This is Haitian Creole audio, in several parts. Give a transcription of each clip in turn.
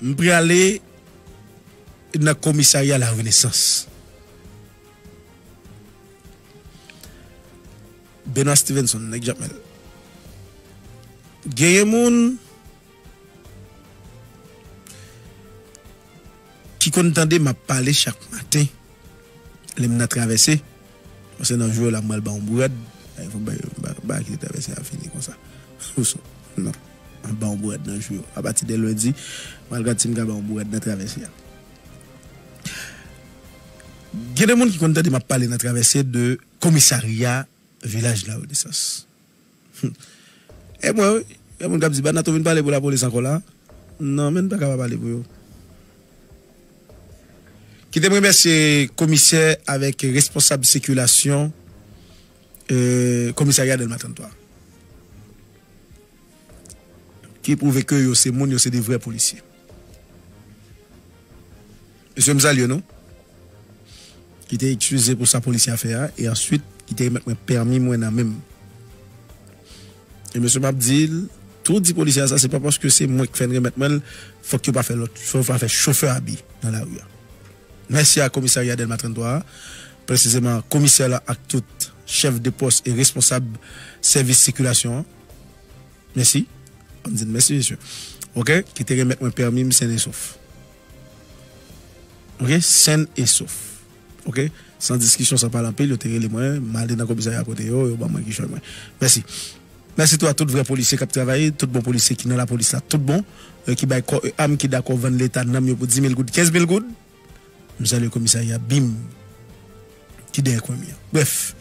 M prale nan komisarya la renesans. Benoit Stevenson nèg jamèl. Genyen moun ki konn tande map pale chak maten lèm nan travèse. Mwen se nan jou yo la mwal baw yon brad a fok bay bay kite travèse a fini konsa ousou nan map baw yon brad nan jou yo apati de lundi mwal gad sim ka baw yon brad nan travèse a gen de moun ki konn tande map pale nan travèse de komisarya vilaj la renesans. Humm e mwen wi gen moun kap di Banato vin pale pou la police ankò la non menn paka pa pale pou yo. Kite m remèsye komisè avèk responsab sikilasyon komisarya Dèlma 33 ki pwouve ke yo se moun yo se de vrè polisye. Mesye m salye nou. Kite ekskize pou sa polisye a fè a e answit kite remèt mwen pèmi mwen nan menm. E mesye map di l tou di polisye a sa se pa paske se mwen k fè n remèt mwen l fòk yo pa fè lòt fòk yo pa fè chofè abi nan lari a. Mèsi a komisarya Dèlma 33 a presizeman komisè la ak tout chèf de pòs e responsab sèvis sikilasyon an Mèsi. Banm di n mèsi mesye. Ok ki te remèt mwen pèmi m sen e sof. Ok sen e sof. Ok san diskisyon san pale anpil yo te rele mwen m ale nan komisarya kote yo yo ban mwen kichòy mwen. Mèsi. Mèsi tou a tout vrè polisye kap travay tout bon polisye ki nan lapolis la tout bon ki bay kò e am ki dakò vann leta nanm yo pou dimil goud kenzmil goud. M salye komisarya bim ki dèyè kwen mi an. Brèf,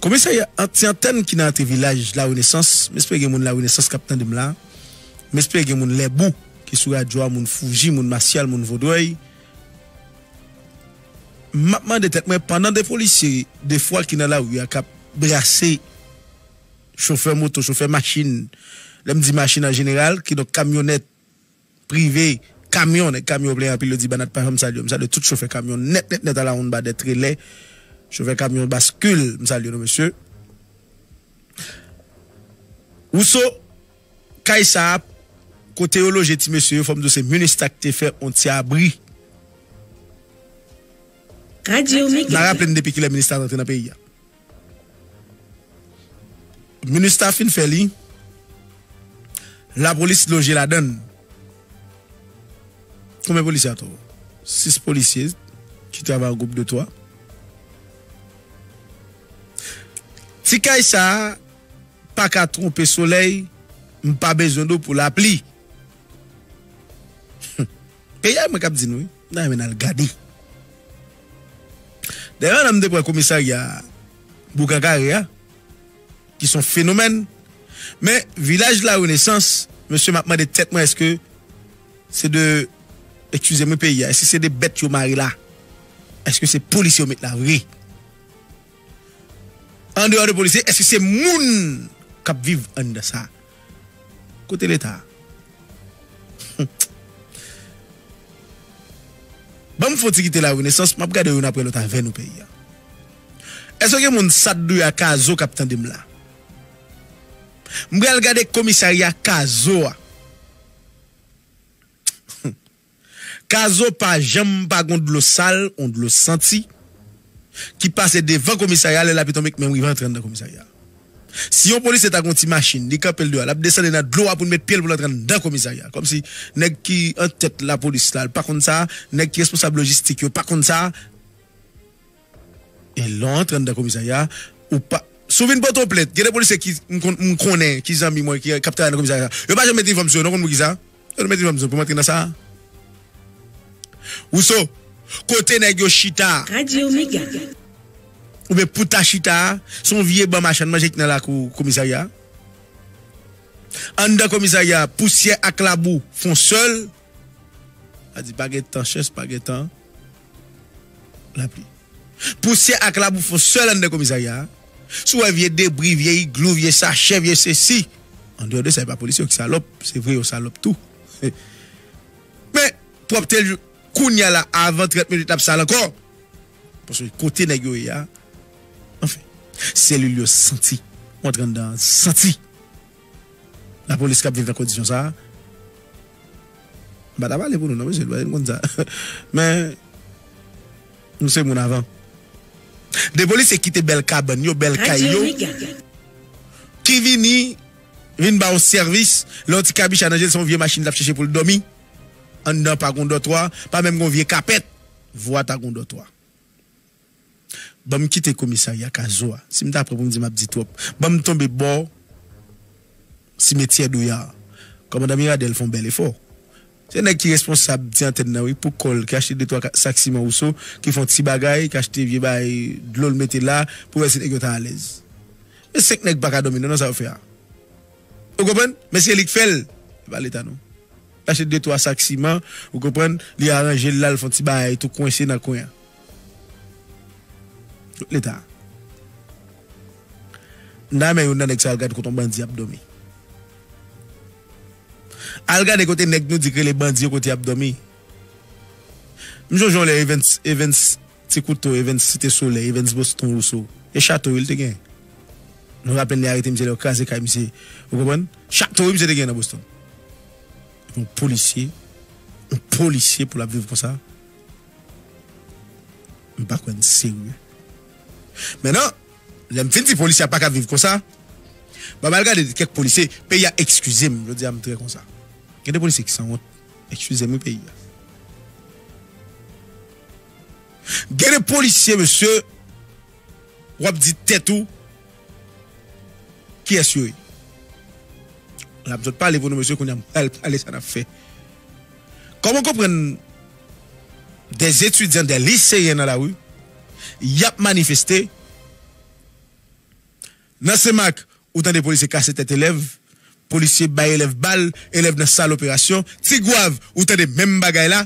komisarya ti antèn ki nan antre vilaj la renesans, m espere gen moun la renesans k ap tande m la, m espere gen moun lèbou ki sou radyo a, moun fouji, moun masyal, moun vodrèy. M ap mande tèt mwen pandan 2 polisye defwa ki nan lari a k ap brase chofè moto, chofè machin, lè m di machin an jeneral kidonk kamyonèt, prive, kamyon, nèg kamyon plen anpil yo di banat pa janm salye yo, m salye tout chofè kamyon nèt nèt nèt alawonnba dè trelè, chofè kamyon baskil m salye nou mesye. Wouso, kay sa a kote yo loje ti mesye yo fò m di w se minustah ki te fè yon ti abri. N a raple n depi kilè minustah rantre nan peyi a. Minustah fin fè li, lapolis loje ladan l. Konbyen polisye atò? 6 polisye ki travay an gwoup de 3. Ti kay sa a pa ka twonpe solèy, m pa bezwen dlo pou lapli. Peyi a e mwen k ap di nou wi. M ta renmen nal gade. Dayè pandan m te pran komisarya Boukan Kare a ki son fenomèn men vilaj la renesans mesye map mande tèt mwen eske se de ekskizem wi peyi a eske se de bèt yo mare la eske se polisye yo met la vre. Andeyò de polisye eske se moun kap viv anndan sa? Kote leta? Banm fon ti kite la renesans map gade youn aprè lòt avè nou peyi a. Eske gen moun sadou a kazo kap tandem la? M pral gade komisarya kazo a. Kazo pa janm pa gon dlo sal ou dlo santi ki pase devan komisarya lè lapi tonbe menm rive antre anndan komisarya. Si yon polisye ta gon ti machin li kanpe l deyò lap desann li nan dlo a pou l met pye l pou l antre anndan komisarya kòmsi nèg ki antèt lapolis la pa konn sa, nèg ki responsab lojistik yo pa konn sa. E lè w antre anndan komisarya a, ou pa. Si w vin pote yon plent, gen de polisye ki m konn, m konnen, ki zanmi mwen, ki ap travay nan komisarya a. Yo pa janm met inifòm sou yo non, ou konn poukisa? Yo te met inifòm sou yo pou m antre nan sa a. Wouso, kote nèg yo chita a. Radio Mega. Oubyen pou ta chita a, se yon vye ban machann manje ki nan lakou komisarya a. Anndan komisarya a, pousyè ak labou fon sèl. A di pa gen tan chès, pa gen tan lapli. Pousyè ak labou fon sèl anndan komisarya a. Si w wè vye debri, vye iglou, vye sachè, vye sesi. Andeyò de sa, e pa polisye yo ki salòp. Se vre yo salòp tou. Men, pwòpte l kounye a la, avan 30 minit l ap sal ankò. Paske kote nèg yo ye a, anfen. Selil yo santi. Ou antre anndan, santi. Lapolis kap viv nan kondisyon sa a, m pa ta pale pou nou non mesye, nou menm nou konn sa. Men, nou se moun avan. 2 polisye kite bèl kabann yo, bèl kay yo, ki vini, vin ba w sèvis, lè yon ti kabicha nan je l, se yon vye machin l ap chèche pou l dòmi, anndan pa gen yon dòtwa, pa menm gen yon vye kapèt, vwa ta gen yon dòtwa. Banm kite komisarya kazo a si m ta pran pou m di map di twòp banm tonbe bò simetyè douyar kòmandan miradel fon bèl efò se nèg ki responsab ti antèn nan wi pou kò l ki achte de twa sak siman wouso ki fon ti bagay ki achte vye bagay dlo l mete la pou wè si nèg yo ta alèz men 5 nèg paka dòmi non nan sa yo fè a ou konprann men se li k fè l se pa leta non l achte de twa sak siman ou konprann li aranje l la l fon ti bagay tou kwense nan kwen an. Tout leta. M ta renmen youn nan nèg sa al gad kote yon bandi ap dòmi. Al gade kote nèg nou di k rele bandi yo kote yap dòmi. M sonje yon lè Evens Evens ti kouto Evens site solèy Evens boston rousseau e chato wi l te gen. M raplenn yo arete misye lè yo kraze kay misye ou konprann. Chato wi misye te gen nan boston. Yon polisye yon polisye pou l ap viv konsa. M pa kwè n serye. Men nan, lè m fin di polisye a pa ka viv konsa, ba m al gade kèk polisye peyi a ekskize m jodi a m trè konsa. Gen de polisye ki sanwont, ekskize m wi peyi a. Gen de polisye mesye w ap di tèt ou kiyès yo ye. L ap jwenn pale pou nou mesye kounye a m pral pale sa n ap fè. Kòman w konprann Des étudiants des lycéens dans la rue yap manifeste Nan senmak ou tande polisye kase tèt elèv polisye bay elèv bal elèv nan sal operasyon tigwav ou tande menm bagay la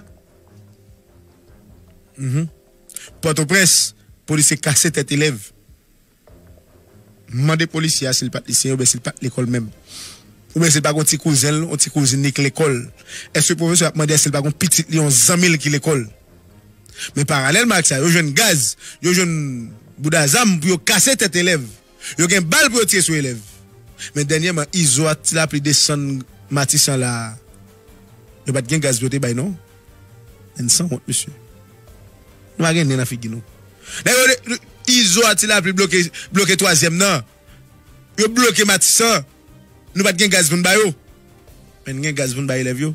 Pòtoprens polisye kase tèt elèv. M mande polisye a si l pa t lisyen oubyen si l pa t lekòl menm. Oubyen si l pa gen yon ti kouzen l, yon ti kouzin li k lekòl. Èske pwofesè a ap mande èske l pa gen yon pitit li, yon zanmi l ki lekòl? Men paralèlman ak sa, yo jwenn gaz, yo jwenn bouda zam pou yo kase tèt elèv. Yo gen bal pou yo tire sou elèv. Men dènyèman, Izo ak Tilapli desann Matisan la a, yo pa t gen gaz pou yo te bay non. N sanwont mesye. Nou pa gen nen nan figi nou. Nèg yo de Izo a ti lapli bloke bloke twazyèm nan. Yo bloke matisan. Nou pat gen gaz pou n ba yo. Men n gen gaz pou n bay elèv yo.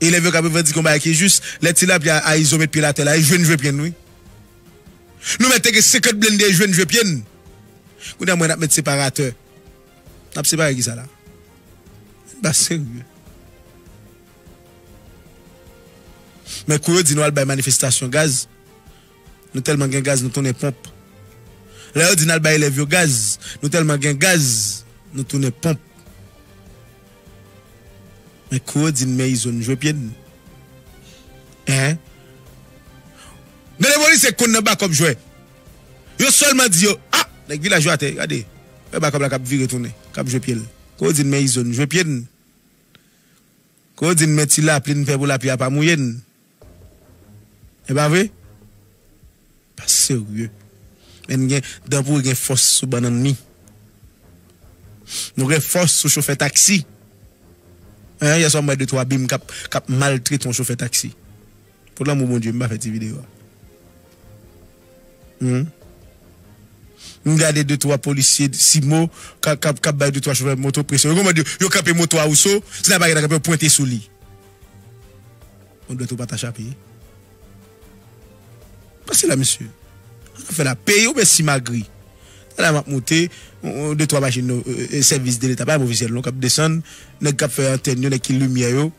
Elèv yo ka revandike yon bagay ki jis. Lè ti lapli a Izo met pye l atè la e jwenn jwe pye n wi. Nou mèt te gen 50 blende e jwenn jwe pye n. Kounye a m wè n ap met separatè. N ap separe kisa la? N pa serye. Men kou yo di nou al bay manifestasyon gaz, nou tèlman gen gaz nou tounen ponp. Lè yo di nal bay elèv yo gaz, nou tèlman gen gaz nou tounen ponp. Men kou yo di n men izo n jwe pye n. Hein? Gen de polisye k konn nan bakòp jwè. Yo sèlman di yo, ah! Nèg vilaj yo atè, gade, wè bakòp la kap vire tounen, kap jwe pye l. Kou yo di n men izo n jwe pye n. Ke w di n men ti lapli n fè pou lapli a pa mouye n. E pa vre? Pa serye. Men n gen dan pouri gen fòs sou bannann mi. Nou gen fòs sou chofè taksi. Yè swa m wè de twa bim k ap maltrete yon chofè taksi. Pou lanmou Bondye m pa fè ti video a humm m gade de twa polisye simo kap bay de twa chofè moto presyon yo komand yo yo kanpe moto a Rousseau si la pa gen kanpe yo pwente sou li bon dwèt ou pata chape pase la mesye an nou fè la peyi ou byen simagri la map moute de twa machin sèvis de leta pa yon ofisyèl non kap desann nèg kap fè antèn yo nèg ki limyè yo.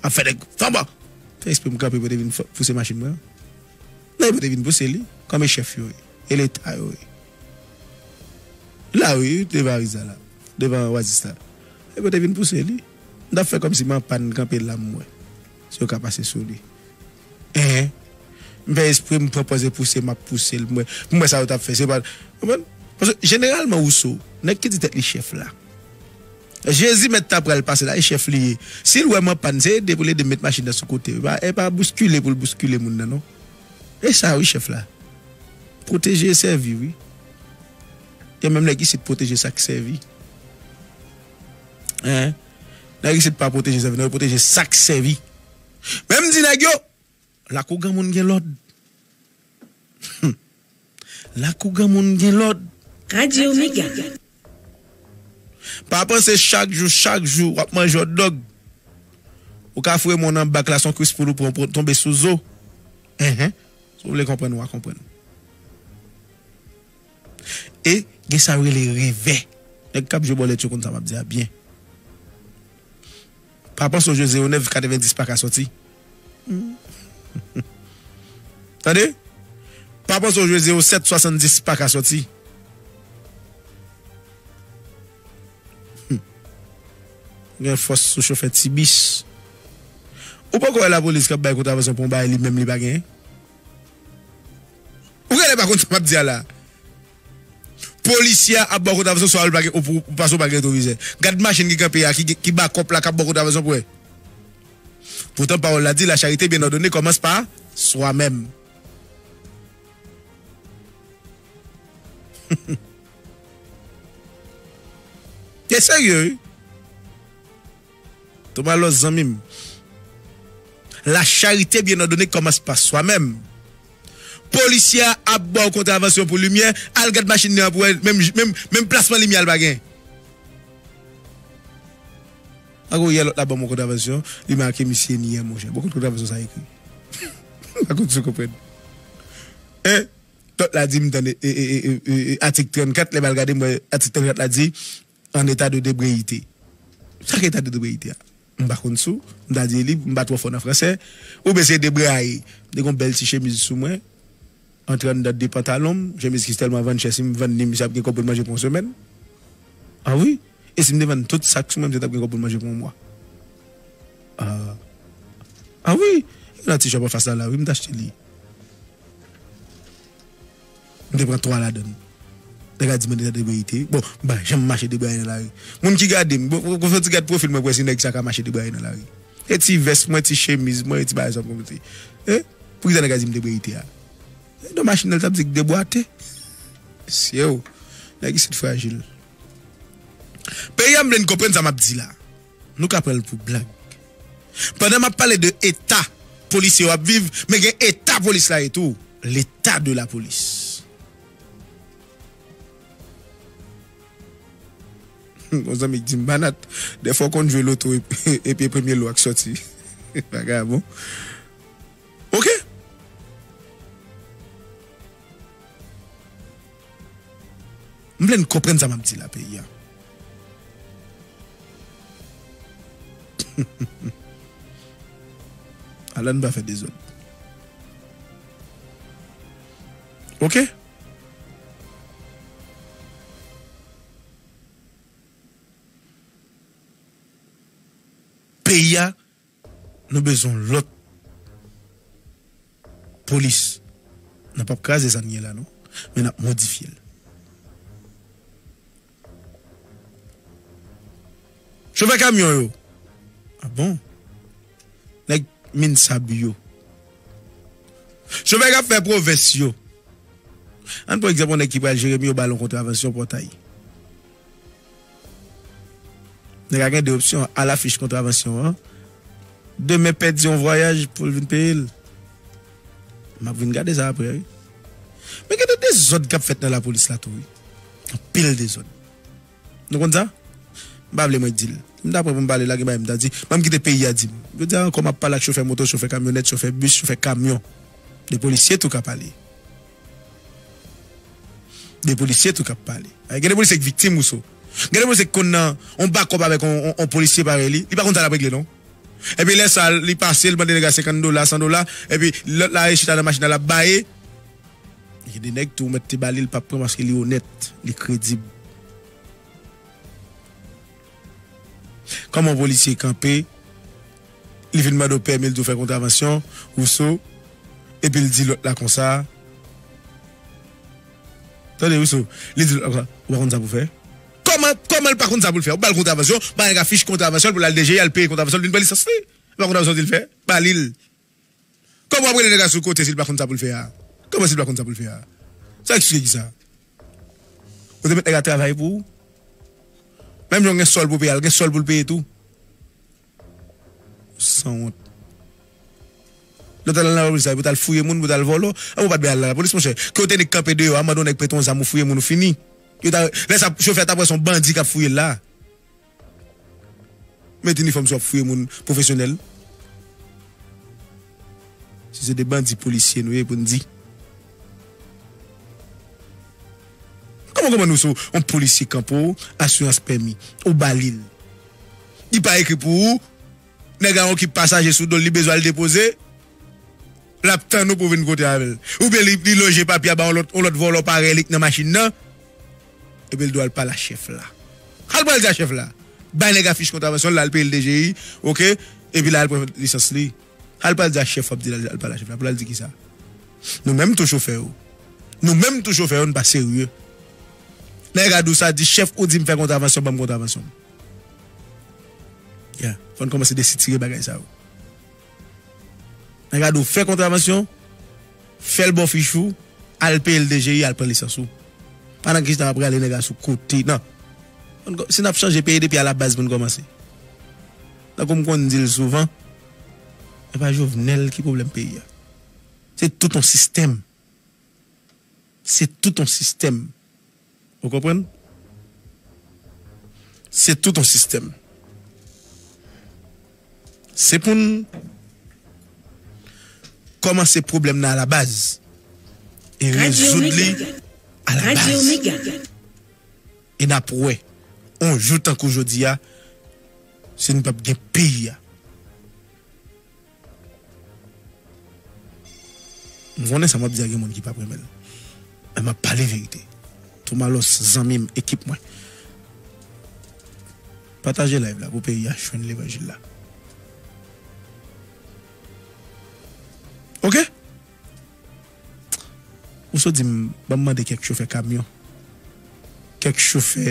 Ap fè nèg fanba. Fè espre m kanpe pou yo te vin pouse machin mwen an. Nan yo pa te vin pouse li. Kòm e chèf yo ye. E leta yo ye. La wi, devan ariz la la. Devan oasis la. E pou yo te vin pouse li. M ta fè kòmsi m anpàn kanpe la m wè. Si yo ka pase sou li. Ehe. M fè espre m pran pòz e pouse m ap pouse l m wè. Pou m wè sa yo ta fè. Se pa. Konprann? Paske jeneralman ou sou. Nèg ki di tèt li chèf la. Jezi mèt ta pral pase la e chèf li ye si l wè m anpàn se ede pou l ede m met machin nan sou kote e pa bouskile pou l bouskile moun nan non e sa wi chèf la pwoteje e sèvi wi gen menm nèg isit pwoteje sa k sèvi nèg isit pa pwoteje sèvi non yo pwoteje sa k sèvi men m di nèg yo Lakou granmoun gen lòd Humm lakou granmoun gen lòd. Radio mega. Pa panse chak jou chak jou wap manje hotdog ou ka foure moun an bak la son kwis poul ou pran ou tonbe sou zo enh si w vle konprann wa konprann e gen sa yo rele revè nèg kap jwe bòlèt yo konn sa map di a byen. Pa panse w jwe zero nèf 90 paka sòti tande pa panse w jwe zero sèt 70 paka sòti ou gen fòs sou chofè ti bis ou poko wè lapolis kap bay kontravasyon pou yon bagay li menm li pa gen ou genlè pa konn sa map di a la. Polisye a ap bò kot avèson swa ou pa gen ou pase ou pa gen retwovizè. Gad machin ki kanpe a ki ba kòp la kap bò kot avèson pou wè. Poutan pawòl la di la charite byen òdone kòmanse pa swa menm. Yo serye wi. Toma lòs zanmi m. La charite bien ordonnée commence par soi même. Polisye a ap baw kontravansyon pou limyè, al gad machin li an pou wè menm plasman limyè a li pa gen. Pako yè lòt la banm yon kontravansyon li make misye nyè monchè. Bon kot kontravansyon sa ekri? M pa konn si w konprann. Hein? Lòt la di m tande atik 34 lè m al gade m wè atik 34 la di. An eta de debreyite. Sa ki eta de debreyite a? M pa konn sou. M ta di li, m pa twò fò nan fransè. Oubyen se debreyaye. M te gen yon bèl ti chemiz sou mwen. Antre anndan de pantalon m. Chemiz ki tèlman vann chè si m vann li misye ap gen kòb pou l manje pou yon semèn. A wi. E si m te vann tout sa k sou mwen misye t ap gen kòb pou l manje pou yon mwa. A. A wi. Nan ti chòp anfas la la wi m t achte li. M te pran 3 ladan l. Nèg la di mwen deja debreyite. Bon, m pa janm mache debraye nan lari. Moun ki gade m, bon, fè yon ti gad pwofil mwen pou wè si nèg sa ka mache debraye nan lari. E ti vès mwen, ti chemiz mwen, e ti bagay sa m konn mete. E, pou ki sa nèg la di m debreyite a? E don machin nan l t ap di k debwate. Mesye o! Nèg isit frajil. Peyi a m vle n konprann sa m ap di la. Nou ka pran l pou blag. Pandan m ap pale de eta polisye yo ap viv, men gen eta polis la ye tou. Leta de la polis. Humm yon zanmi k di m Banat, dèfwa w konn jwe loto epi e premye lo a k sòti. Bagay a bon. Ok! M vle n konprann sa map di la peyi an ala n pa fè dezòd ok. Peyi a. Nou bezon lot polis nan pap kraze sa n gen la non men nap modifye l. Chofè kamyon yo a bon nèg minsab yo chofè kap fè pwovens yo an pran egzanp yon nèg ki pral jeremi yo bal yon kontravansyon pòtay. Nèg la gen 2 opsyon a la fich kontravansyon an demen pèdi yon vwayaj poul vin peye l map vin gade sa aprè wi men gen de dezòd kap fèt nan lapolis la tou wi anpil dezòd nou konn sa m pa vle mwen dil m ta pran pou m pale la gen bagay m ta di banm kite peyi a dim jodi a ankò map pale ak chofè moto chofè kamyonèt chofè bis chofè kamyon de polisye tou ka pale. De polisye tou kap pale. Gen de polisye ki viktim Rousseau. Gen de polisye ki konn nan on bakòp avèk on polisye parèy li, li pa konn sa lap regle non. Epi lè sa li pase li mande nèg la 50 dola, 100 dola, epi lòt la ale chita nan machin nan lap baye. Gen de nèg tou ou mèt te ba li li pap pran paske li onèt, li kredib. Kòman yon polisye kanpe, li fin mande w pèmi, li di w fè kontravansyon, Rousseau, epi l di lòt la konsa, Tande, Rousseau, li di lòt la konsa, Ou pa konn sa pou w fè? Kòman, kòman l pa konn sa pou l fè? Ou ba l kontravansyon, ba nèg la fich kontravansyon l pou l al DG, al peye kontravansyon l vin pran lisans li. Epa kontravansyon w di l fè? Ba li l. Kòman wap rele nèg la sou kote si li pa konn sa poul fè a? Kòman si li pa konn sa poul fè a? Sa eksplike kisa? Ou te met nèg la travay pou ou? Menm jan ou gen sòl pou peye a, li gen sòl poul peye tou. Sanwont. Lè ou tal nan lapolis la epi ou tal fouye moun pou tal vòlò, anvan ou pat bay al nan lapolis monchè. Ke ou te nik kanpe deyò a, mande yon nèg prete yon zam ou fouye moun ou fini. Yo ta, lè sa chofè a tap wè son bandi kap fouyel la. Met inifòm si wap fouye moun pwofesyonèl. Si se 2 bandi polisye nou ye pou n di. Kòman kòman nou sou yon polisye kanpe w asirans pèmi ou ba li l. Li pa ekri pou ou nèg la gen yon kip pasaje sou do l li bezwen al depoze lap tann ou pou vin kote avè l. Oubyen li loje papye a ba yon lòt vòlò parèy li k nan machin nan Epi l dwe al pale a chèf la. Sa l pral di a chèf la? Bay nèg a fich kontravansyon l la, al peye l DGI, ok, epi l al pran lisans li. Sa l pral di a chèf w ap di l al pale a chèf la? Pou l al di kisa? Nou menm tou chofè yo. Nou menm tou chofè yo n pa serye. Nèg a di w sa, di chèf ou di m fè kontravansyon, ban m kontravansyon m. Ya, fò n kòmanse desitire bagay sa yo. Nan gade ou fè kontravansyon, fè l bò fich ou, al peye l DGI, al pran lisans ou. Pa nan kisa w ap rale nèg la sou kote, nan. Si n ap chanje peyi depi alabaz pou n kòmanse. Tankou m konn di l souvan, se pa Jovenel ki pwoblèm peyi a. Se tout yon sistèm. Se tout yon sistèm. Ou konprann? Se tout yon sistèm. Se pou n kòmanse pwoblèm nan alabaz e rezoud li alabaz. E n ap wè, yon jou tankou jodi a, si n pap gen peyi a. M konnen sa map di a gen moun ki pap renmenl men map pale verite tou malos zanmim ekip mwen pataje live la pou peyi a jwenn levanjil la ok ou sot dim banm mande kèk chofè kamyon kèk chofè.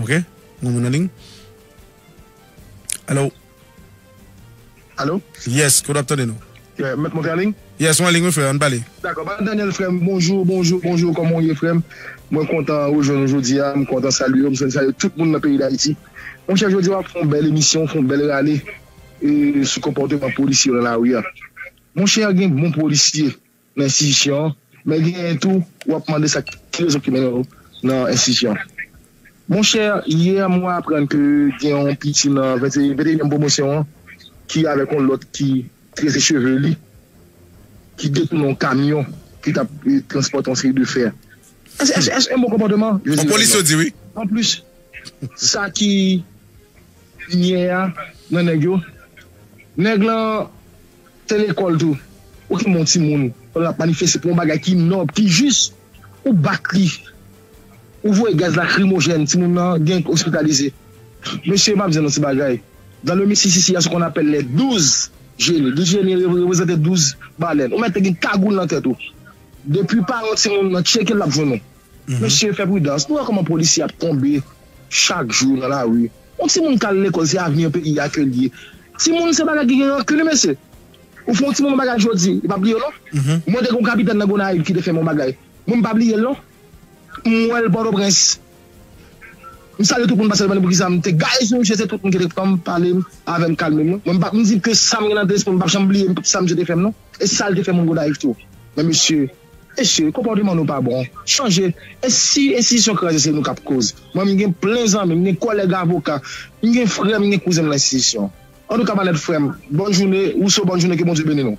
Ok nou moun anling. Alo. Alo. Yes kote wap tande nou. Yeah mèt monte anling. Yes ou anling wi frè an pale. Dakò pa Daniel frèm bonjou bonjou bonjou kòman ou ye frèm mwen kontan rejwenn ou jodia m kontan salye ou m salye tout moun nan peyi dayiti monchè jodia wap fè yon bèl emisyon ou fè yon bèl rale sou konpòteman polisye yo nan lari a monchè gen bon polisye nan enstitisyon an, men genyen tou w ap mande sa ki rezon ki mennen w nan enstitisyon an. Monchè, yè mwen aprann ke gen yon piti nan venteyièm pwomosyon an ki avèk yon lòt ki trese cheve li, ki detounen yon kamyon ki t ap transpòte yon seri de fè. Èske yon bon konpòteman? Je dirai non. Anplis, sa ki pi nyè a nan nèg yo, nèg lan Se lekòl tou. Ou ki moun timoun pandan nap manifeste pou yon bagay ki nòb, ki jis, ou bat li, ou voye gaz lakrimojèn, timoun nan gen ospitalize. Mesye map di nou ti bagay, dans le Missississi ya se konn apèl les 12 génies, 12 génies reprezante 12 balèn, ou mèt te gen kagoul nan tèt ou, depi paran timoun nan tchekel lap jwenn ou. Mesye fè pridans, nou wè kòman polisye ap tonbe chak jou nan lari. Yon timoun kal lekòl se avni peyi a kel ye timoun se bagay ki gen rankun wi mesye ou fè yon timoun yon bagay jodi li pa bliyew non mwen te gen yon kapitèn nan Gonayiv ki te fèm yon bagay mwen m pa bliyel non m wèl pòtoprens m salye tout moun paskel mande poukisa m te gaye sou misye se tout moun ki te pranm palem avèm kalmem non mwen m pap m di ke sam gen nan lesprim m pap janm bliye tout sa misye te fèm non e sal te fè moun Gonayiv tou men mesye. Mesye, konpòteman nou pa bon. Chanje. E si enstitisyon kraze se nou kap koz? Mwen m gen plen zanmi, m gen kòlèg avoka, m gen frè, m gen kouzen m lan enstitisyon. Antouka Manèt frè m, bòn joune, Rousseau bòn joune ke Bondye beni nou.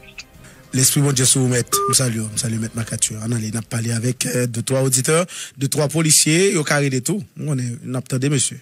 Lespri Bondye sou ou mèt. M salye w, m salye mèt Marcature. Ann ale nap pale avèk de twa oditè, de twa polisye, yo ka rele tou. M konnen nap tande mesye.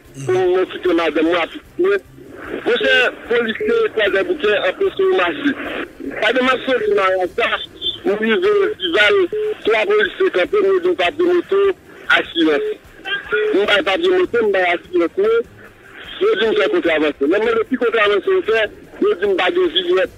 Pou mwen kite madanm mwen ak pitit mwen. Monchè polisye kwadèboukè anpeche yo mache. Pandan map soti marasa m rive dival 3 polisye kanpe m yo di'm papye moto asirans m bay papye moto m bay asirans mwen yo di'm fè kontravanse lèm mande ki kontravanse ou fè yo di'm pa gen vignette.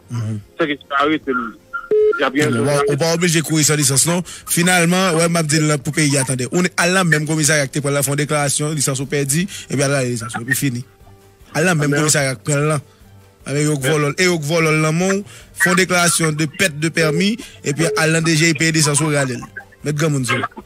Sa ki se pa arete l. Ou pa oblije kouri san lisans non. Finalman, wè m ap di l pou peyi a tande. Ou al nan menm komisarya ki te pran l lan, fè yon deklarasyon, lisans ou pèdi, epi al rale lisans ou, epi fini. Al nan menm komisarya ki pran l lan. Epi yo k vòlò l, e yo k vòlò l nan men w, fè yon deklarasyon de pèt de pèmi, epi al nan DGI peye lisans ou, rale l. Mèt granmoun se ou.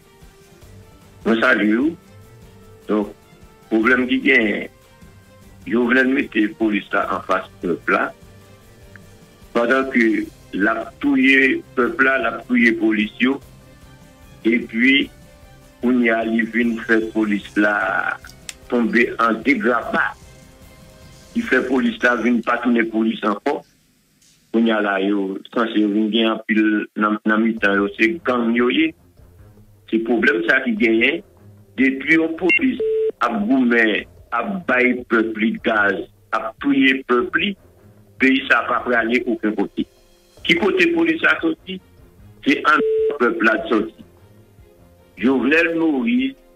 Mwen salye ou donk pwoblèm ki genyen jovenel mete polis la anfas pèp la pandan ke lap touye pèp la lap touye polis yo epi kounye a li vin fè polis la tonbe an degrapa ki fè polis la vin pa tounen polis ankò. Kounye a la yo sanse yo vin gen anpil nan mitan yo se gang yo ye. Se pwoblèm sa ki genyen depi yon polis ap goumen ap bay pèp li gaz ap touye pèp li peyi sa pa prale oken kote. Ki kote polis la soti? Se anndan pèp la l soti. Jovenel Moïse.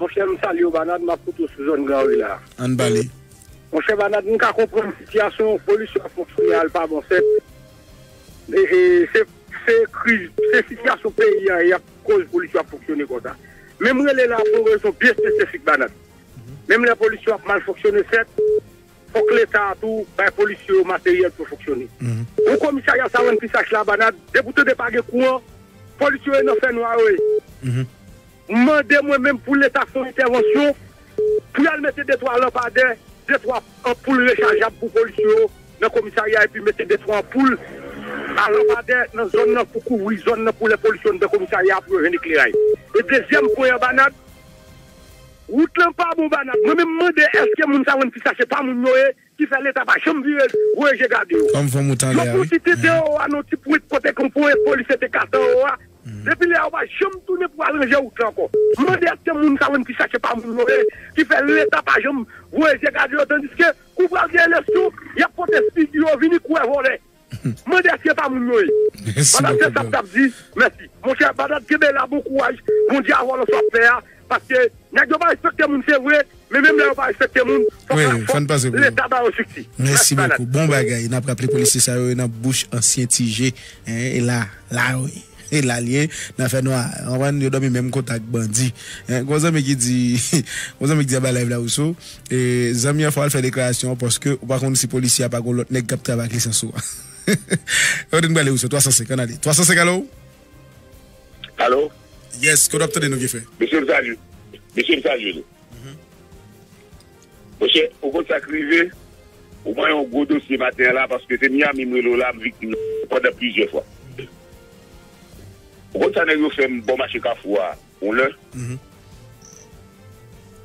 Monchè m salye w Banad map koute w sou zòn gran ri la. Ann pale. Monchè Banad m ka konprann sitiyasyon polis yo ap fè kounye a l pa bon sèt se kriz se sitiyasyon peyi a yap koz polis yo ap fonksyone konsa men m rele la pou yon rezon byen espesifik Banad menm lè polis yo ap mal fonksyone sèt Fòk leta a tou bay polisye yo materyèl pou yo fonksyone. Pou komisarya sa rann pi sach labanad, depi w tande pa gen kouran, polis yo ye nan fè nwa yo ye. M mande mwen menm pou leta fè yon entèvansyon, pou y al mete de twa lanpadè, de twa anpoul rechajab pou polis yo nan komisarya epi mete de twa anpoul a lanpadè nan zòn nan pou kouvri zòn nan pou lè polis yo anndan komisarya a pou yo jwenn ekleray. E dezyèm pwen anbanad, Wout lan pa bon banal. Mwen menm mande eske moun sa wèn fi sa se pa moun yo ye ki fè leta pa janm vire voye je gade yo. Fanm fanm ou tande a wi. Yon bon ti tete oo a non ti pwent kote kon pwen e polisye te katan oo a depi lè a ou pa janm tounen pou al ranje wout lan ankò. M mande eske moun sa wèn fi sa se pa moun yo ye ki fè leta pa janm voye je gade yo tandiske kou pral gen elèsyon yap pote figi yo vini kouwè vòlè. Mande eske pa moun yo ye. Merci Badad se beaucoup sap bro. tap di merci. Monchè badad kenbe la bon kouraj bondye avèw nan sap fè a paske nèg yo pa respekte moun se vre men menm lè yo pa respekte moun fòk la Wi fòk fann pase pou yo. leta bayo sikti Merci mèsi banad. beaucoup bon bagay nap raple polisye sa yo yo nan bouch ansyen ti je hein e la la yo ye. E la l ye, nan fè nwa. Ou konprann? Yo dòmi menm kota ak bandi. Gen yon zanmi ki di, gen yon zanmi ki di anba live la, Rousseau, zanmi an fò w al fè deklarasyon an paske ou pa konn si polisye a pa gen yon lòt nèg k ap travay ak lisans ou a. Kote n prale Rousseau? 305, ann ale. 305, alo? Alo? Yes, kote w ap tande nou, Gefe? Mesye, m salye. Mesye, m salye nou. Monchè ou konn sak rive ou pran yon gwo dosye maten an la paske se Miami m rele w la m viktim nan pandan plizyè fwa ou konn sa nèg yo fè m bò mache kafou a yon lè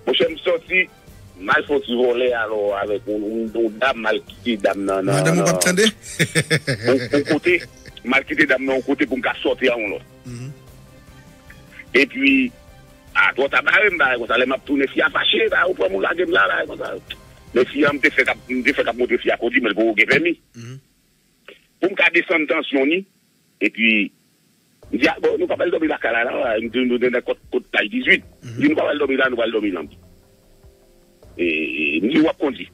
monchè m sòti m al fè yon ti vole alò avèk yon dam m al kite dam nan nan yon kote m al kite dam nan yon kote pou m ka sòti a yon lòt epi. Ah twò ta barem bagay konsa lè map tounen fi a fache bagay ou pranm ou lagem la bagay konsa men fi an mte fè kap mte fè kap montre fi a kondi menl poko gen pèmi poum ka desann tansyon ni epi mdi al bon nou pap al dòmi lakay la nan mdi nou nan kòt kay 18 mdi nou pap al dòmi la nou pral dòmi nan. Ni wap kondi.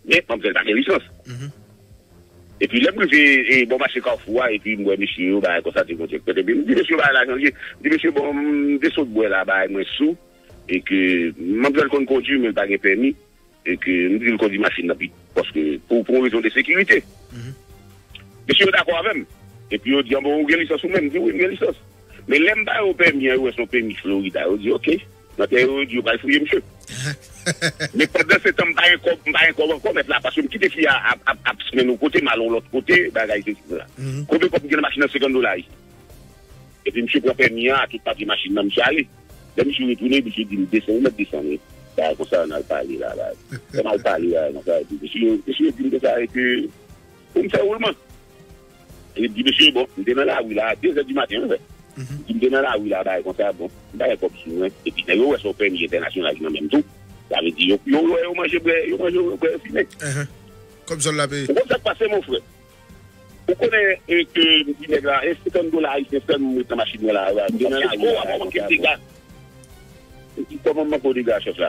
Men manmzèl pa gen lisans. Epi lèm rive bò mache kafou a epi m wè mesye yo bagay konsa ti kote kote epi m di mesye yo bagay la chanje m di mesye bon m te sot bwè la bagay mwen sou e ke manmzèl konn kondi men l pa gen pèmi e ke m di l kondi machin nan pi paske pou yon rezon de sekirite mesye yo dakò avèm epi yo di an bon ou gen lisans ou menm m di wi m gen lisans men lèm ba yo pèmi an yo wè son pèmi florida yo di ok. Nan tè yo di yo pral fouye misye. Men pandan se tan m pa gen kòb m pa gen kòb ankò mèt la paske m kite fi a ap smen yon kote m al yon lòt kote bagay sesi cela. Konbyen kòb m gen nan machin nan 50 dola ui. Epi misye pran pèmi an a tout papye machin nan misye ale. Lè misye retounen misye di m desann ou mèt desann wi bagay konsa nan al pale la bagay. Lè m al pale bagay konsa epi mesye yo di m konsa e ke pou m fè woulman. Li di mesye bon m te nan lari la a dezè di maten anvè li di m te nan lari la a bagay konsa bon m pa gen kòb sou mwen epi nèg yo wè se yon pèmi entènasyonal ki nan men m tou sa vle di yo yo wè yo manje bwè yo manje yo bwè yo fimen Kòb zòn la peye. Ou konn sa k pase mon frè ou konnen ke m di nèg la e 50 dola ayisyen fè m ret nan machin mwen la a m te nan lari la a bagay konsa bon Li di kòman m manke w dega chèf la.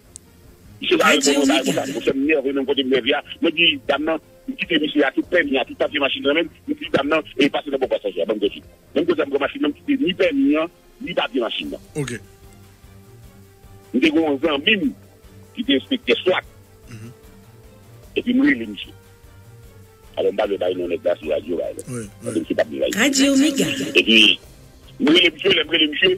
Misye pa reponn mwen, pa reponn dam nan. Monchè m nève menm kote m nève a, mwen di dam nan, m kite misye a tout pèmi a, tout papye machin nan men l, m di dam nan, e pase nan bò pasaje a ban m kòd vit. Menm kote a m pran machin nan m kite ni pèmi an, ni papye machin nan. Ok. M te gen yon zanmi m ki te enspektè swat, epi m rele misye. Alò m pa dwe bay non nèg la sou radyo la, paske misye pa p vle bay non. Epi m rele misye, lè m rele misye.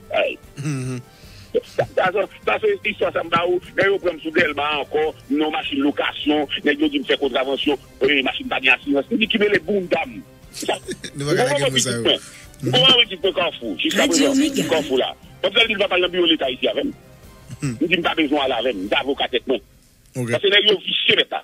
Sa se istwa sa m ba ou lè yo pran m sou Dèlma ankò m nan yon machin lokasyon nèg yo di m fè kontravansyon machin pa gen asirans m di ki mele bounda m m konn anpil pitit mwen m konn anpil pitit mwen Kafou jiska prezan Kafou la m fè l di l va pral nan biwo leta isi avè m m di m pa bezwen al avè m m se avoka tèt mwen paske nèg yo visye nèt la.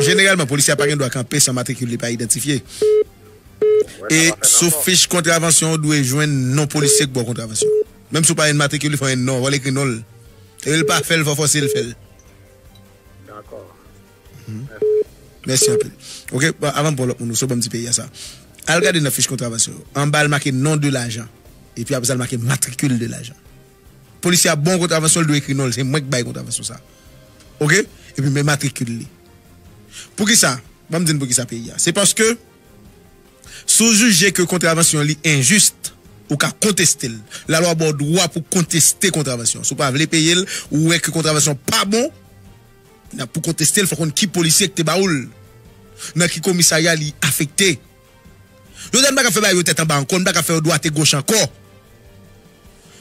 Jeneralman, polisye a pa gen dwa kanpe san matrikil li pa idantifye. E, sou fich kontravansyon ou dwe jwenn non polisye k ba w kontravansyon an. Menm si w pa jwenn matrikil li, fò w jwenn non l, fò l ekri non l. Se lè l pa fè l, fò w fòse l fè l. Dakò. Mèsi. Mèsi anpil. Ok, avan m pran lòt moun ou, si w ban m ti peyi a sa. Al gade nan fich kontravansyon yo. Anba l make non de lajan. Epi apre sa l make matrikil de lajan. Polisye a bon kontravansyon li dwe ekri non li se mwen ki bay kontravansyon sa ok epi men matrikil li poukisa banm di n poukisa peyi a se paske si w jije ke kontravansyon li enjis ou ka konteste l lalwa ba w dwa pou konteste kontravansyon an si w pa vle peye l ou wè ke kontravansyon an pa bon pou konteste l fòk w konn ki polisye ki te ba ou l nan ki komisarya li afekte. Jodi a n pa ka fè bagay yo tèt anba ankò, n pa ka fè yo dwate goch ankò.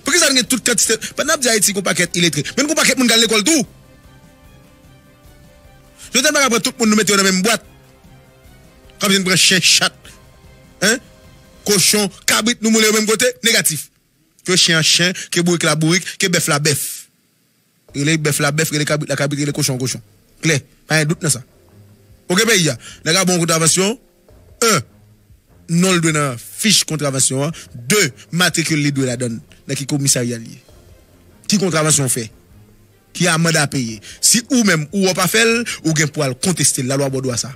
Poukisa n gen tout kantite, pandan n ap di Ayiti gen yon pakèt iletre, men n gen yon pakèt moun k al lekòl tou. Jodi a n pa ka pran tout moun nou mete yo nan menm bwat, k ap vin pran chen, chat, kochon, kabrit nou moule yo menm kote, negatif. Ke chen an chen, ke bourik la bourik, ke bèf la bèf. Rele bèf la bèf, rele kabrit la kabrit, rele kochon an kochon. Klè, pa gen dout nan sa. Ok peyi a, nèg a bon an kontravansyon, 1, non l dwe nan fich kontravansyon an, 2, matrikil li dwe ladan l, nan ki komisarya l ye, ki kontravansyon w fè, ki amand a peye. Si ou menm ou wè w pa fè l, ou gen pou al konteste l, lalwa ba w dwa sa.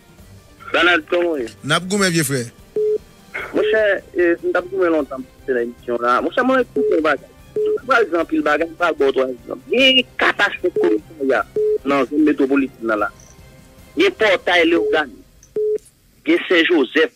Danald kòman w ye? N ap goumen vye frè. Monchè, m t ap goumen lontan m pase nan emisyon w la. Monchè, mwen wè tout yon bagay. M pral di w anpil bagay, m pral ba w 3 egzanp. Gen katastwòf komisarya nan zòn metwopolitèn nan la. Gen pòtay Lewogàn. Gen Sen Jozèf.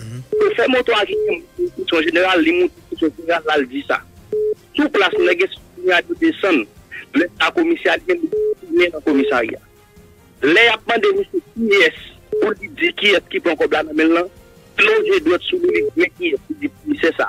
Chofè moto a ki gen enstriksyon jeneral li moute sou chofè a lal di sa. Sou plas nèg enstriksyon a yo desann, lè sa komisè a li menm li retounen nan komisarya. Lè yap mande misye kiyès pou li di kiyès ki pran kòb la nan menl lan, li lonje dwèt sou li li di men kiyès li di komisè sa.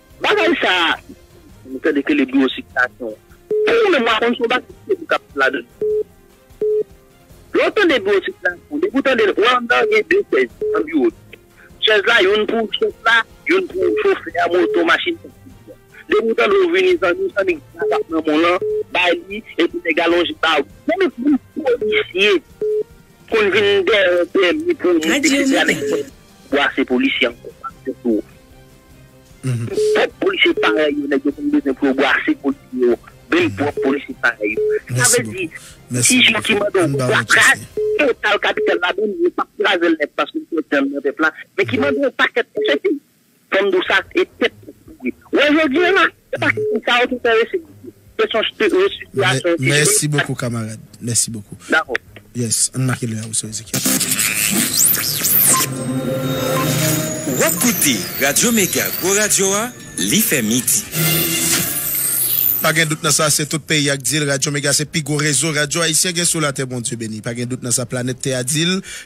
Bagay sa a m tande ke li biwo sikilasyon. Pou mwen menm m pa konn si yon bagay ki serye k ap fèt ladan l. Lè w tande biwo sikilasyon, depi w tande l, wè anndan an gen de chèz nan biwo l. Chèz la youn pou chèf la, youn pou chofè a moto, machin sa ki vini an. Depi w tande w vini zanmi, zanmi ki gen zam nan men w lan, bay li, epi nèg la lonje ba ou. Menm yon polisye konn vin dèyè w pèmi pou w monte, eksetera. Bwase polisye ankò pap fèt pou ou. Pwòp polisye parèy yo nèg yo konn bezwen pou yo bwase polisye yo menm pwòp polisye parèy yo. Sa vle di ti Jean ki mande w fatra total kapital la menm yo pap kraze l nèt paske l pèdi nan men pèp la men ki mande w pakèt kòb se fini. Fanm dous ak e tèt ki pouri. Wè jodi an la, se pa kesyon sa yo ki enterese moun yo. Kesyon re sitiyasyon ki genyen. Mèsi bokou kamarad. Mèsi bokou. Dakò. Yes. Ann make lè a wi sou Ezekiel. Wap koute Radio Mega gwo radio a li fè midi. Pa gen dout nan sa, se tout peyi a k di l, Radyo Mega se pi gwo rezo radyo ayisyen gen sou latè Bondye beni, pa gen dout nan sa planèt tè a di l,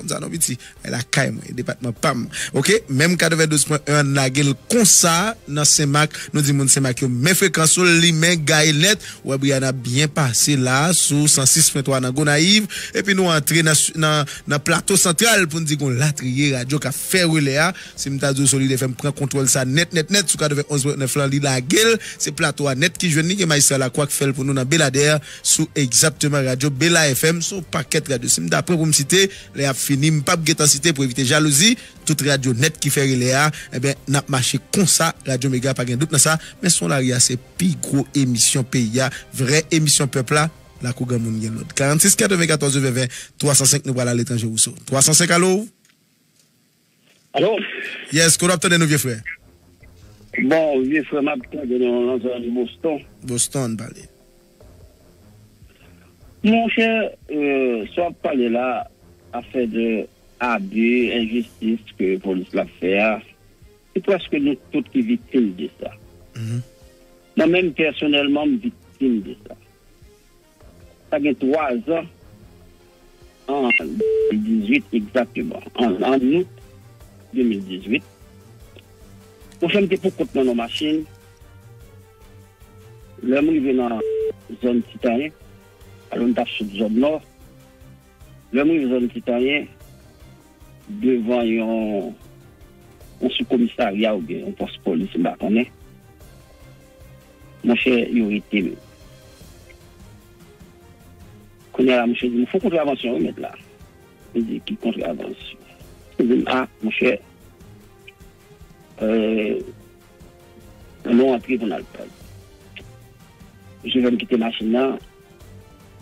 Konsa non piti, ay lakay mwen, e depatman pam ok, menm 92 pwen 1 an lage l konsa nan senmak, nou di moun senmak yo men frekans ou l limen gaye nèt, ou wè Brianna ap byen pase la sou 106 pwen 3 nan Gonayiv, epi nou antre nan nan plato santral pou n di gon latriye radyo k ap fè relè a, si m ta di w Solide fè m pran kontwòl sa nèt nèt nèt sou 91 pwen 9 lan li lage l, se plato a nèt ki jwenn li, gen Majistra Lakwa k fè l pou nou nan Beladè. sou egzakteman radyo Bela FM, sou yon pakèt radyo. Si m ta pran pou m site, lè ap fini, m pap gen tan site pou evite jalouzi, tout radyo nèt ki fè relè a, enben, n ap mache konsa, radyo Mega pa gen dout nan sa, men Son Lari a se pi gwo emisyon peyi a, vrè emisyon pèp la, Lakou Granmoun gen lòd. 46 94 20 20, 305 nou pral ale Tanjé Rousseau. 305 alo! Alo! Yes, kote w ap tande nou vye frè? Bon, vye frè m ap tande nou nan zòn Boston. Boston, pale. Mon chè, sa w ap pale la, afè de abi, enjistis ke polis la ap fè a, se prèske nou tout ki viktim de sa. Mwen menm pèsonèlman m viktim de sa. Sa gen 3 zan, an 2018 egzakteman, an Out 2018, mwen fè m te poukont mwen nan yon machin. Lè m rive nan zòn Ti Tanyen, alò m t ap sot zòn Nò, lè m rive zòn Ti Tanyen, devan yon soukomisarya oubyen yon pòs polis m pa konnen, Monchè yo rete m. Kounye a monchè di m ou fon kontravansyon wi mèt la. M di ki kontravansyon? Li di m a monchè annou antre pou n al pale. Monchè fè m kite machin nan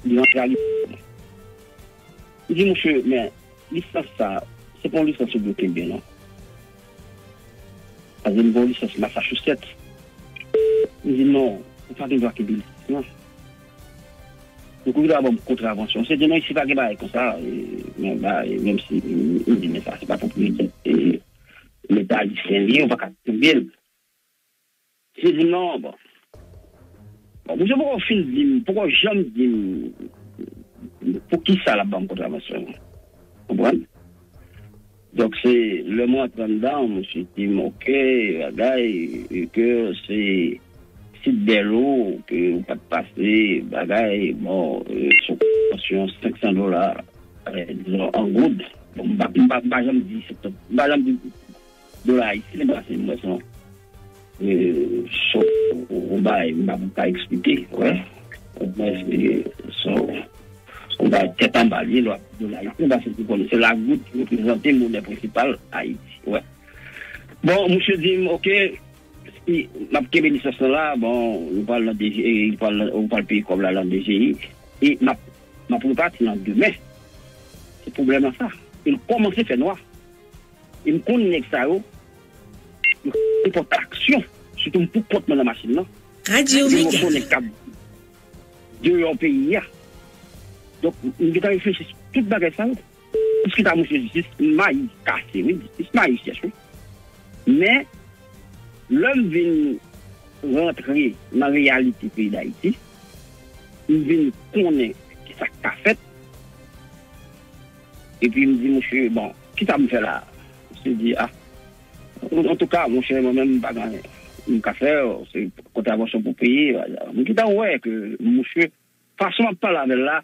li antre a li bloke m. M di monchè men lisans sa se pa yon lisans yo bloke m non. Sa vle di gen yon lisans Massachusetts. M di non, ou pa gen dwa kenbe lisans lan. Ou gen dwa ban m kontravansyon. Misye di non isi pa gen bagay konsa. Bon bagay, menm si m di men sa se pa pwopriyete Leta ayisyen li ye, ou pa ka kenbe l. Misye dim non bon. Bon misye poko fin dim poko janm dim poukisa lap banm kontravansyon an. Konprann? Donk se lè mwen antre anndan misye dim ok bagay ke se sit bèlo ke ou pat pase bagay bon sou konvansyon 500 dola dizon an goud. Bon mpa janm di 500 mpa janm di Dola ayisyen pase m wè son son ou bay m pa eksplike wè ou mwen se son ou bay tèt anba lye lwa dola ayisyen pase m konnen se la goud ki reprezante monè prensipal ayiti wè bon misye di m ok si m ap kenbe lisans lan la bon nou pral nan dgi nou pral nan ou pral peye kòb la nan dgi e m ap m ap repati nan demen se pwoblèm lan sa e l kòmanse fè nwa. E m konn nèg sa yo. M konn fè traksyon. Sitou m pou kont mwen nan machin lan. Radio Mega. Gen mòso nèg k ap deyò peyi a. Donk m gen tan reflechi sou tout bagay sa yo. Piske ta mouche jistis m mayi kase wi. Jistis m mayi chèch wi. Men lè m vin rantre nan reyalite peyi Dayiti, m vin konnen ki sa k ka fèt. Epi m di mouche bon. Kisa m fè la? Ou se di a. Antouka, monchè, mwen menm m pa gen anyen m ka fè. Se kontravansyon pou peye. M gentan wè ke mouche, fason m ap pale avè l la,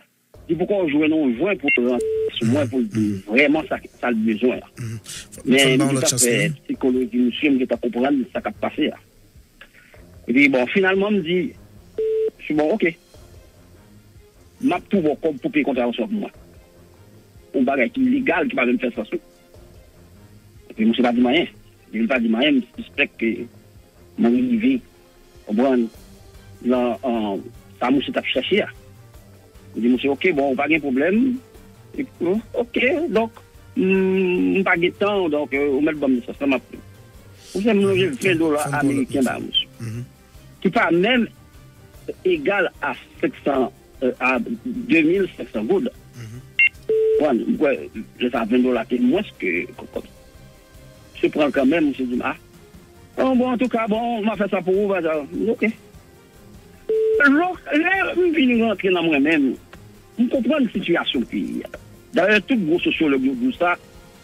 li poko jwenn yon jwen pou l rantre sou mwen pou l di m vrèman sa l bezwen an. Men, m gentan fè psikoloji mouche, m gentan konprann sa k ap pase a. Epi bon finalman m di Misye bon ok m ap tou ba w kòb pou peye kontravensyon pou mwen. Yon bagay ki legal ki pa menm fè sans tou. Epi misye pa di m anyen. Depi l pa di m anyen m sispèk ke mwen rive konprann lan sa misye t ap chèche a. Li di misye ok bon ou pa gen pwoblèm, ok donk m pa gen tan w donk ou mèt ban m lisans lan m ap pran. Ou fè m lonje 20 dola ameriken ba misye ki pa menm egal a 500 a 2500 goud konprann. M kwè lè sa 20 dola te mwens ke kòb sa. Misye pran l kanmenm misye di m a bon antouka bon m ap fè sa pou ou m di ok. Lè m vin rantre nan mwen menm, m konprann sitiyasyon peyi a. Dayè tout gwo sosyològ yo di w sa,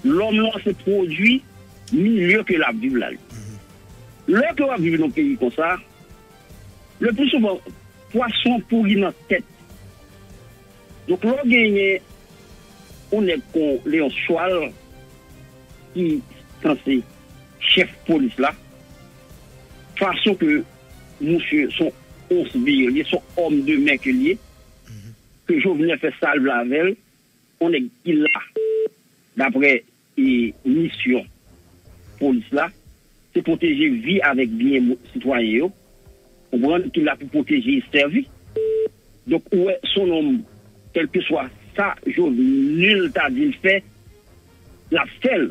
lòm lan se pwodui milye ke l ap viv la. Lè ke w ap viv nan yon peyi konsa, le pli souvan pwason an pouri nan tèt. Donk lè w genyen yon nèg kon Leonce Chwal ki sanse chèf polis la, fason ke Mouche son ons vye liye son homme de main ke liye ke jovenel fè sal vle avèl on nèg ki la daprè e misyon polis la se pwoteje vi avèk byen sitwayen yo konprann ki la pou pwoteje e sèvi donk ou wè son nonm kelkeswa sa jovenul ta dil fè lap fèl.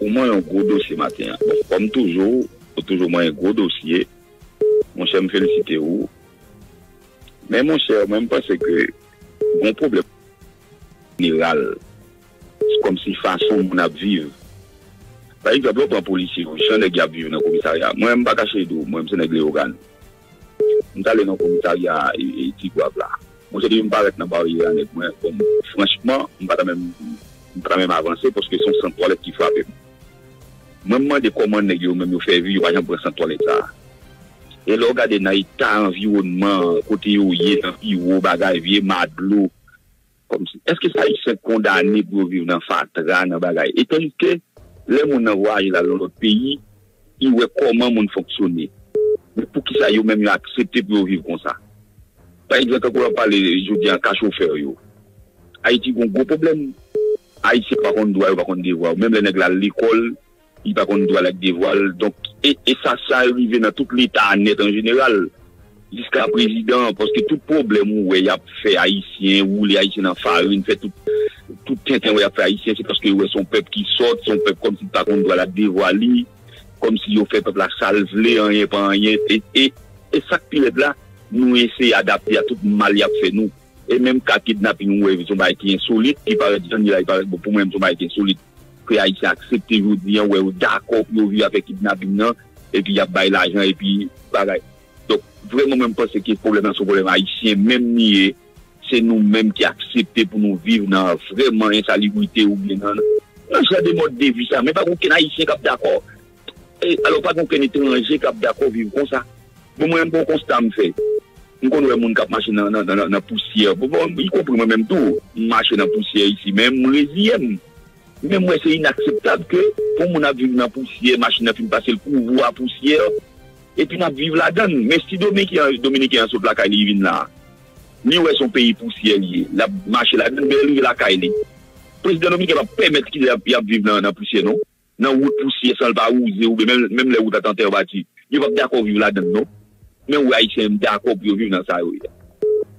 Ou man yon gwo dosye maten an. Bon kòm toujou ou toujou man yon gwo dosye monchè m felisite ou men monchè mwen m panse ke gon pwoblèm jeneral se kòmsi fason moun ap viv pa egzanp lè w pran polisye yo jan nèg yo ap viv nan komisarya mwen m pa kache di w mwen m se nèg Leyogàn M t ale nan komisarya Tigwav la. Monchè depi m parèt nan baryè a nèg mwen bon franchman m pa ta menm m pa ta menm avanse paske se yon sant twalèt ki frape m. Mwen m mande kòman nèg yo menm yo fè vi yo pa janm pran sant twalèt sa. E lè w gade nan eta anviwònman an kote yo ye nan biwo bagay vye ma dlo. Kòmsi, èske se Ayisyen k kondane pou yo viv nan fatra, nan bagay? E tandiske, lè moun nan vwayaje l al yon lòt peyi, li wè kòman moun fonksyone. Men poukisa yo menm yo aksepte pou yo viv konsa? Pa egzanp, tankou lè w ap pale jodi a ka chofè yo. Ayiti gen yon gwo pwoblèm. Ayisyen pa konn dwa yo, pa konn devwa yo. Menm lè nèg la al lekòl. Li pa konn dwa l ak devwa l. Donk, e sa sa rive nan tout leta a nèt an jeneral, jiska prezidan an. Paske tout pwoblèm ou wè y ap fè Ayisyen, woule Ayisyen nan farin, fè tout tout tenten wè y ap fè Ayisyen, se paske yo wè se yon pèp ki sòt, se yon pèp kòmsi ki pa konn dwa l ak devwa li, kòmsi yo fè pèp la sa l vle, anyen pa anyen. E e sa k pi rèd la, nou eseye adapte a tout mal y ap fè nou. E menm ka kidnaping ou wè son bagay ki ensolit, ki parèt jan li la li parèt bon pou mwen menm son bagay ki ensolit ke ayisyen aksepte jodi an wè yo dakò pou yo viv avèk kidnaping nan epi yap bay lajan epi bagay donk vrèman mwen mpanse ke pwoblèm nan son pwoblèm ayisyen menm li ye se nou menm ki aksepte pou nou viv nan vrèman ensalibrite oubyen nan jan de mòd de vi sa men pa gen okenn ayisyen kap dakò E alò pa gen okenn etranje kap dakò viv konsa. Bon mwen menm gen yon konsta m fè. M konn wè moun kap mache nan pousyè. Y konpri mwen menm tou. M mache nan pousyè isi men m reziyen m. Men m wè se inakseptab ke pou moun ap viv nan pousyè, machin nan fin pase l kouvou a pousyè epi nap viv ladann. Men si dominiken an sot lakay li vin la a. Li wè se yon peyi pousyè li ye. Lap mache ladann men lè l rive lakay li. Prezidan domiken pap pèmèt kilè yap viv nan pousyè non. nan wout pousyè san l pa wouze oubyen menm menm lè wout la t an tè bati yo p ap dakò viv ladan l non men wè ayisyen yo m dakò pou yo viv nan sa yo ye a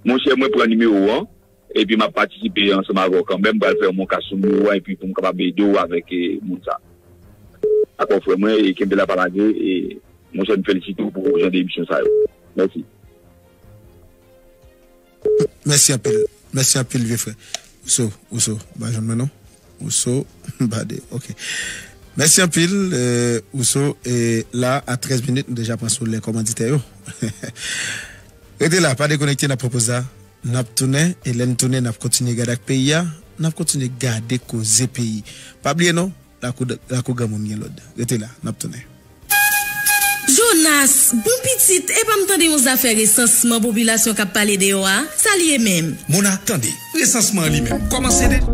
monchè mwen pran nimewo w an epi m ap patisipe ansanm avè w kanmenm m pral fè yon monkas sou nimewo w an epi pou m kapab ede w avèk moun sa dakò frè mwen e kenbe la pa lage e monchè m felisite w pou jan de emisyon sa yo mèsi. Mèsi anpil Mèsi anpil vye frè Rousseau Rousseau ba jwenn mwen non Rousseau bade ok Mèsi anpil Rousseau e la a 13 minit nou deja pran sou lè kòmanditè yo Rete la pa dekonekte nan pwopoz la nap tounen e lèn tounen nap kontinye gad ak peyi a nap kontinye gade koze peyi pa bliye non. Lakou granmoun gen lòd. Rete la, n ap tounen. Jonas, bon pitit, epa m tande yon zafè resansman popilasyon k ap pale deyò a. Sa l ye menm? Mona, tande, resansman an li menm kòmanse deja?